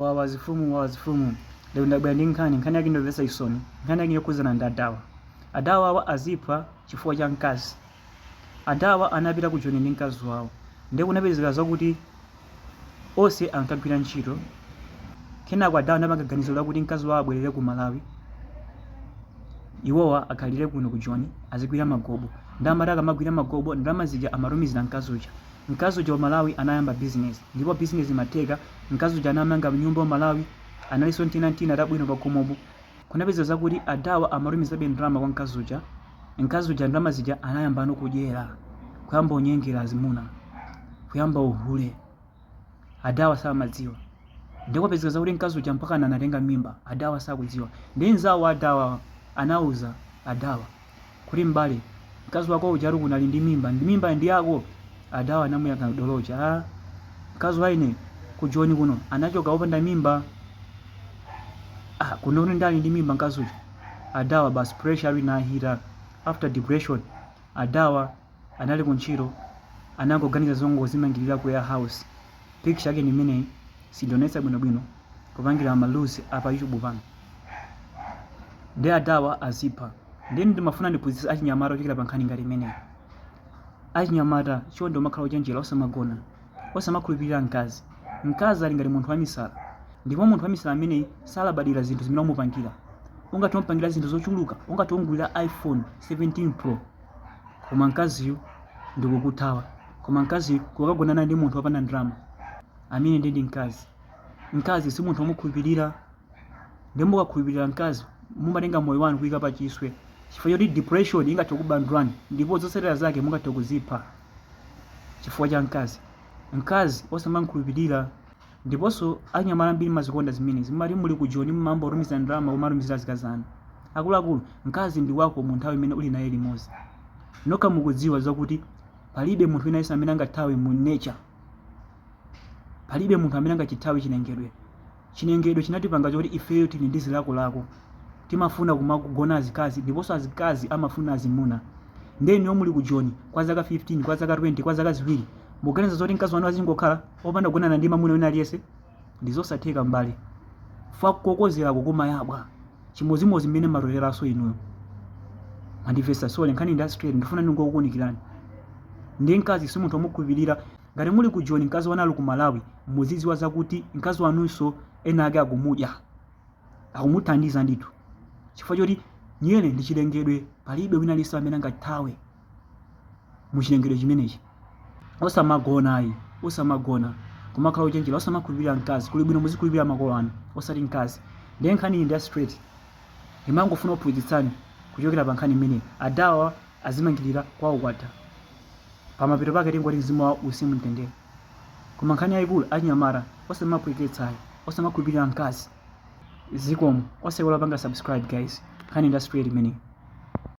wawazifumu wawazifumu lero ndabwera ndi nkhani nkhani yake ndomvetsa chisoni nkhani yake yokhudzana ndi adawa adawa awa aziphwa chifukwa cha mkazi adawa anapita ku joni ndi mkazi wawo ndiye kunapezeka zakuti onse ankagwira ntchito kenako adawa anapanga ganizo lakuti mkazi wawo abwerere ku malawi iwowa akhalire kuno ku joni azigwira magobo ndiye amati akamagwira magobo ndalama zija amatumizira mkazi uja mkazi uja ku malawi anayamba bizinesi ndipo bizinesi imatheka Mkazi uja anamanga nyumba ku Malawi analinso tina n'tina tabwino pakhomopo. Kunapezeka zakuti a Dawa amatumizabe ndalama kwa mkazi uja. Mkazi uja ndalama zija anayamba no kudyera. Kuyamba kunyengera azimuna. Kuyamba uhule. A Dawa samadziwa. Ndiye kwapezeka zakuti mkazi uja mpakana anatenga mimba. A Dawa sakudziwa. Ndiye nzawo a Dawa anauza a Dawa. kuti m'bale, mkazi wako uja ati kuno ali ndi mimba, ndi mimba ndi yako? Adawa anamuyankha dolo uja, ah, mkazi wa ine ku Joni kuno anachoka wopanda mimba. Ah, kuno akuti ali ndi mimba mkazi uja. Adawa basi pressure ali nahira. After depression, adawa anali kuntchito anangoganiza zongozimangirira ku warehouse. Picture yake ni imeneyi sindionetsa bwinobwino kupangira ma rules a pa YouTube pano. Ndi adawa azipha. Ndiye ndimafuna ndiphunzitse achinyamata kuchokera pa nkhani ngati imeneyi. Achinyamata, chonde kumakhala ochenjera, osamagona, osamakhulupirira mkazi. Mkazi ali ngati munthu wamisala, ndipo munthu wamisala ameneyi salabadira zinthu zimene wamupangira. Ungathe kumupangira zinthu zochuluka, ungathe kumugulira iPhone 17 Pro, koma mkaziyu ndi kukuthawa. Koma mkaziyu kukagonana ndi munthu wopanda ndalama, ameneyo ndiye ndi mkazi. Mkazi si munthu womukhulupirira. ndi mukakhulupirira mkazi mumatenga moyo wanu kuika pa chiswe chifukwa choti depression ingathe kubandulani ndipo zotsatira zake mungathe kuzipha chifukwa cha mkazi mkazi osamamkhulupirira ndiponso anyamata ambiri mumazikonda zimenezi mumati muli ku joni mumayamba kutumiza ndalama kumatumizira azikazi anu akuluakulu mkazi ndi wako mu nthawi imene uli naye limodzi nokha mukudziwa zakuti palibe munthu wina yense amene angathawe nature palibe munthu amene angachithawe chilengedwe Chilengedwe chinatipanga choti ifeyo tili ndi zilakolako. Timafuna kumagona azikazi ndiponso azikazi amafuna azimuna. Ndiye inuyo muli ku Joni kwa zaka 15, kwa zaka 20, kwa zaka ziwiri, mukuganiza zoti mkazi wanu azingokhala opanda kugonana ndi mamuna wina aliyense? Ndi zosatheka m'bale. Fwak kokozerako kumayabwa. Chimodzimodzi mmene mumatoteranso inuyo. Mwandimvetsa? Sorry, nkhani ndi ya straight. Ndikufuna ndingokuunikirani. Ndiye mkazi si munthu womukhulupirira. Ngati muli ku Joni mkazi wanu ali ku Malawi muzidziwa zakuti mkazi wanunso ena ake akumudya, akumuthandiza ndithu chifukwa choti nyere ndi chilengedwe palibe wina aliyense amene angathawe mu chilengedwe chimenechi. Osamagona ayi, osamagona. Kumakhala ochenjera, osamakhulupirira mkazi. Kuli bwino muzikhulupirira makolo anu osati mkazi. Ndiye nkhaniyi ndi ya straight. Ndimangofuna kuphunzitsani kuchokera pa nkhani imeneyi. Ada awa adzimangirira kwawo kwatha. Pamapeto pake tingoti mzimu wawo uuse mumtendere. Koma nkhani yaikulu achinyamata osamaphweketsa ayi, osamakhulupilira mkazi. Zikomo osaiwala kupanga subscribe guys. Nkhani ndi ya straight imeneyi.